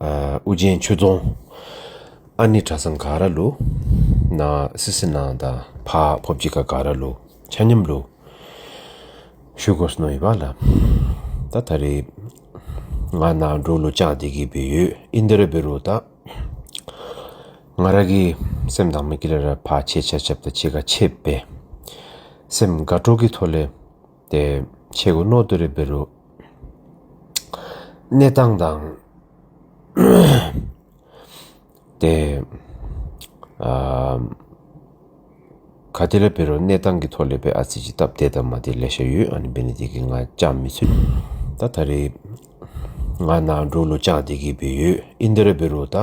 ཨུ་རྒྱན་ཆོས་རྫོང། ཨ་ནི་གྲྭ་ཚང་གྷ་ར་ལུ། ན་སི་སི་ནང་དང་བྷ་བྷོ་བརྒྱིད་ཀ་གྷ་ར་ལུ། ཆ་སྙོམས་ལུ། ཤུ་གོ་སི་ནོ་ཡི་བ་ལ། ད་ད་རེ། ང་ན་འགྲོ་ལུ་ཅང་དེ་གི་བི་ཡོད་ཨི་འདི་ར་བི་རུ་ད། ང་ར་གི་སེམས་དང་མི་ཀི་ལ་ར་བྷ་ཆེ་ཆ་ཆབ་ད་ཆེ་ག་ཆེ་བེ། སེམས་དགའ་དྲོ་གི་ཐོ་ལེ། ཏེ། ཆེ་གེ་མནོ་དུ་རེ་བེ་རུ། གནས་སྟངས་དང། ཏེ། ག་དེ་ལ་བེ་རུ་གནས་སྟངས་ཀི་ཐོག་ལེ་བེ་ཨ་ཙི་ཅི་སྟབས་དེ་དང་མ་དེ་ལེ་ཤ་ཡུ་ཨ་ནི་བེ་ནི་དེ་གི་ང་ཅང་མི་ཚོད། ད་ད་རེ། ང་ན་འགྲོ་ལུ་ཅང་དེ་གི་བེ་ཡུ་ཨིན་དེ་རེ་བེ་རུ་ད།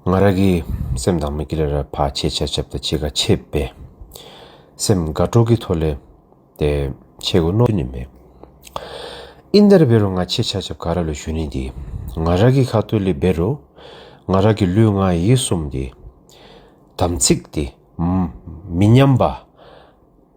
ང་ར་གི་སེམས་དང་མིག་གི་ལ་ར་བ་ཆེ་ཆ་ཆབ་ད་ཆེ་ག་ཆེ་བེ། སེམས་དགའ་སྤྲོ་གི་ཐོ་ལེ་ཏེ་ཆེ་གོ་ནོ་ནི་མེ། ཨིན་དར་བེ་རུ་ང་ཆེ་ཆ་ཆབ་ག་ར་ལུ་ཞུ་ནི་དེ། ང་ར་གི་ཁ་ཐོ་ལི་བེ་རུ་ང་ར་གི་ལུས་ང་ཡི་སུམ་དེ། དམ་ཚིག་དེ། མི་ཉམས་པ།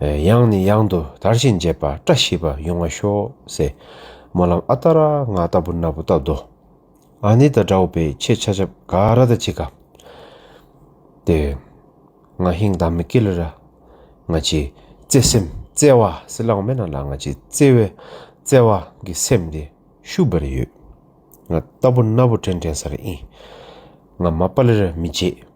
ཡང་ནས་ཡང་དུ་དར་བཞིན་རྒྱས་པ་བཀྲ་ཤིས་པ་ཡོང་བ་ཤོག་སེ། སྨོན་ལམ་ཨ་ཏཱ་ར་ང་ལྟ་བུ་ན་བུ་ལྟ་བདོ། ཨ་ནེ་དང་འདྲ་བོ་པའི་ཆེ་ཆ་ཆབ་ག་ར་ད་ཆི་ག། དེ། ང་ཧིང་དཱ་མི་སྐེ་ལི་ར། ང་ཆི་བརྩེ་སེམས་བརྩེ་བ་སི་ལང་མེ་ན་ལ་ང་ཆི་བརྩེ་བའི་བརྩེ་བ་གི་སེམས་དེ་ཤུ་བེར་ཡོད། ང་ལྟ་བུ་ན་བུ་དྲན་དྲན་སར་ཨིན། ང་མ་པ་ལི་ར་མི་བརྗེད།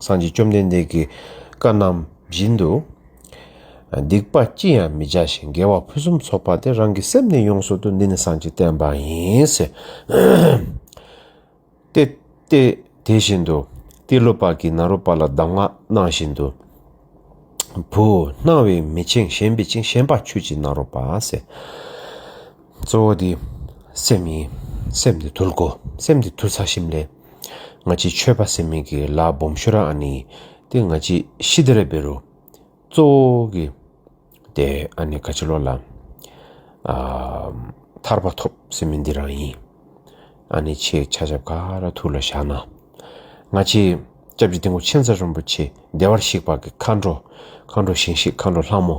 སངས་རྒྱས་བཅོམ་ལྡན་འདས་ཀྱི་བཀའ་རྣམས་བཞིན་དུ། སྡིག་པ་ཅི་ཡང་མི་བྱ་ཞིང་དགེ་བ་ཕུན་སུམ་ཚོགས་པ་དེ་རང་གི་སེམས་ནས་ཡོངས་སུ་དུ་འདི་ནི་སངས་རྒྱས་བསྟན་པ་ཡིན། ཏེ། དེ་བཞིན་དུ་ཏེ་ལོ་པ་ཀི་ན་རོ་པ་ལ་གདམས་ངག་གནང་བཞིན་དུ། བུ། སྣང་བས་མི་འཆིང་ཞེན་པས་འཆིང་ཞེན་པ་ཆོས་ཀྱི་ནཱ་རོ་པ། གཙོ་བོ་དེ་སེམས་ཡིན། སེམས་དེ་དུལ་གོ། སེམས་དེ་དུལ་ཚ་ཞིམ་ལས། ང་ཅི་ཆོས་པ་སེ་མིག་གི་ལག་སྦོམ་ཤོ་ར་ཨ་ནི་ཏེ་ང་ཅི་ཤི་དེ་ར་བེ་རུ། ཙོ་བོ་གི། དེ་ཨ་ནི་ཁ་ཆེ་ལོ་ལ། ཐར་པ་ཐོབ་སེ་མི་འདི་རང་ཡིན། ཨ་ནི་ཆེ་ཆ་ཆབ་ཁ་ར་ཐུག་ལ་བཞག་ན། ང་ཅི་སྐྱབས་རྗེ་ཏིང་ཁོ་ཆེན་ཚ་རོན་པོ་ཆེ་བདེ་བར་གཤེགས་པ་གི་མཁའ་འགྲོ་མཁའ་འགྲོ་བཞེངས་ཤིག་མཁའ་འགྲོ་ལྷ་མོ།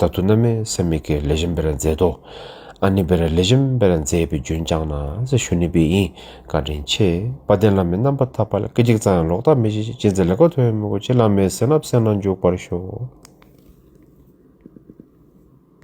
ད་དུ་མནའ་མས་སེམས་མི་དགེའི་ལས་གཞན་པེ་ར་མཛད་དོ། ཨ་ནི་པེ་ར་ལས་གཞན་པེ་ར་མཛད་པའི་རྒྱུན་བསྐྱངས་ན་ས་ཞུ་ནི་པེ་ཡིན་བཀའ་དྲིན་ཆེ། དཔའ་ལྡན་བླ་མའི་རྣམ་པར་ཐར་པ་ལ་སྐད་ཅིག་ཙམ་ཡང་ལོག་ལྟ་མི་བྱེད་ཅིག་ཅི་མཛད་ལེགས་པར་ཐོས་ཡོད་མོད་གོ་ཅི་བླ་མའི་གསན་རབ་གསན་ན་འཇུག་པར་ཤོག།